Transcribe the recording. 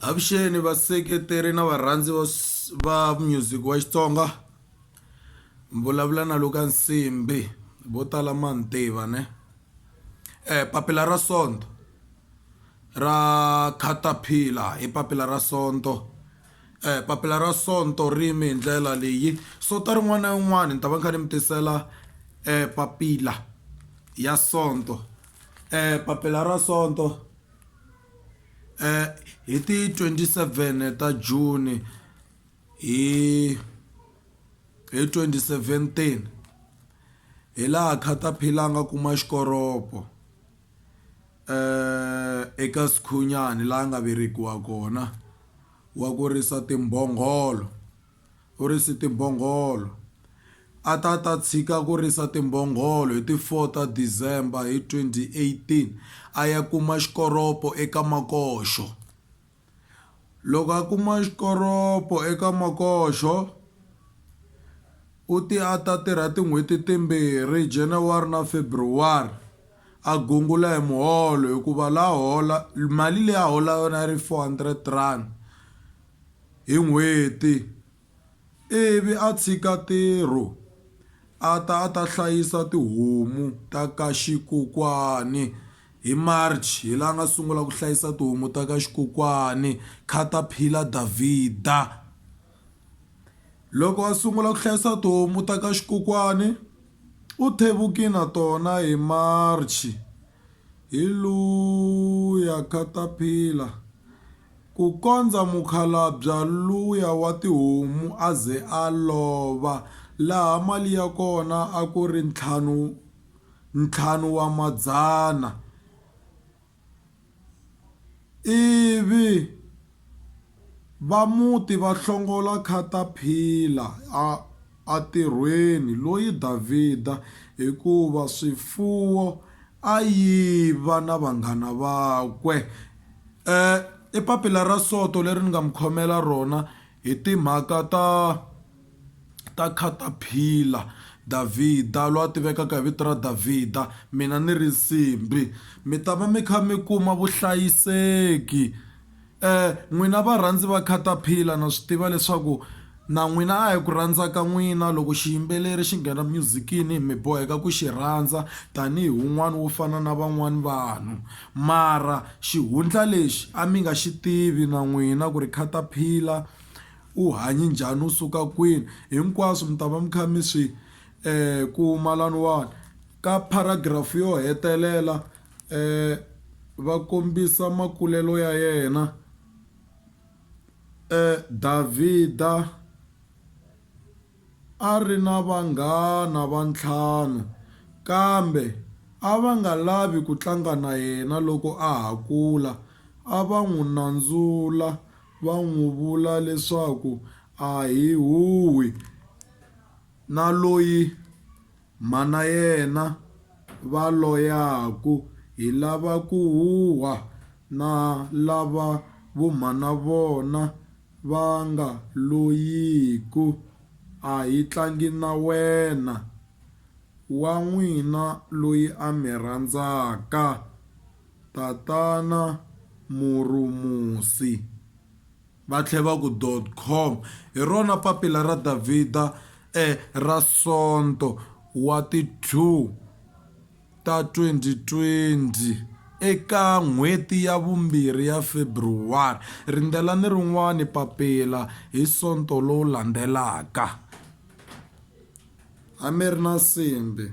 avuxeni vaseketeri na varhandzi va s- va music wa xitsonga mi vulavula na luka nsimbi vo tala ma ni tiva ne eh, papila ra sonto ra caterpillar i papila ra sonto eh, papila ra sonto rimi hi ndlela leyi sota rin'wana na rin'wana ni ta va ni kha ni mi tisela eh, papila ya sonto Papila ra Sonto hi ti 27 ta Juni hi hi 2017 hi laha caterpillar a nga kuma xikoropo eka sikhunyani laha a nga velekiwa kona wa ku risa timbhongolo. U rise timbhongolo. A ta ta tshika ku risa timbhongolo hi ti 4 ta December hi 2018 a ya kuma xikoropo eka makoxo. Loko a kuma xikoropo eka makoxo u te a ta tirha tin'hweti timbirhi January na February a gungula hi muholo hikuva la hola mali leyi a hola yona a yi ri 400 rand. hi n'hweti ivi a tshika ntirho a ta a ta hlayisa tihomu ta ka xikokwani hi March hi la nga sungula ku hlayisa tihomu ta ka xikokwani Caterpillar Davida loko a sungula ku hlayisa tihomu ta ka xikokwani u thevukile na tona hi March hi luya Caterpillar. Kukondza mukhalabya luya wa tihomu a ze a lova, laha mali ya kona a ku ri ntlhanu ntlhanu wa madzana, ivi va muti va hlongola khataphila a atirhweni loyi Davhida, hikuva swifuwo a yiva na vanghana vakwe. E, i papila ra soto leri ni nga mi khomela rona hi timhaka ta ta caterpillar, Davhida lwa tivekaka hi vito ra Davhida, mina ni ri nsimbhi. Mi ta va mi kha mi kuma vuhlayiseki. N'wina varhandzi va Caterpillar na swi tiva leswaku na n'wina a hi ku rhandza ka n'wina loko xiyimbeleri xi nghena myuzikini mi boheka ku xi rhandza tanihi wun'wani wo fana na van'wani vanhu mara xihundla lexi a mi nga xi tivi na n'wina ku ri Caterpillar u hanye njhani u suka kwini hinkwaswo mi ta va mi kha mi swi kuma laniwani ka paragraph yo hetelela va kombisa makulelo ya yena Davhida a ri na vanghana va ntlhanu kambe a va nga lavi ku tlanga na yena loko a ha kula a va n'wi nandzula va n'wi vula leswaku a hi huhwi. Na loyi mhana yena va loyaku hi lava ku huhwa na lava vo mhana vona va nga loyiku, a hi tlangi na wena, wa n'wina loyi a mi rhandzaka, Tatana Murumusi. Va tlhela va ku, Com. Hi rona papila ra Davhida ra Sonto wa ti 2 ta 2020 eka n'hweti ya vumbirhi ya February. Rindzelani rin'wana papila hi Sonto lowu landzelaka. A mi ri na nsimbhi.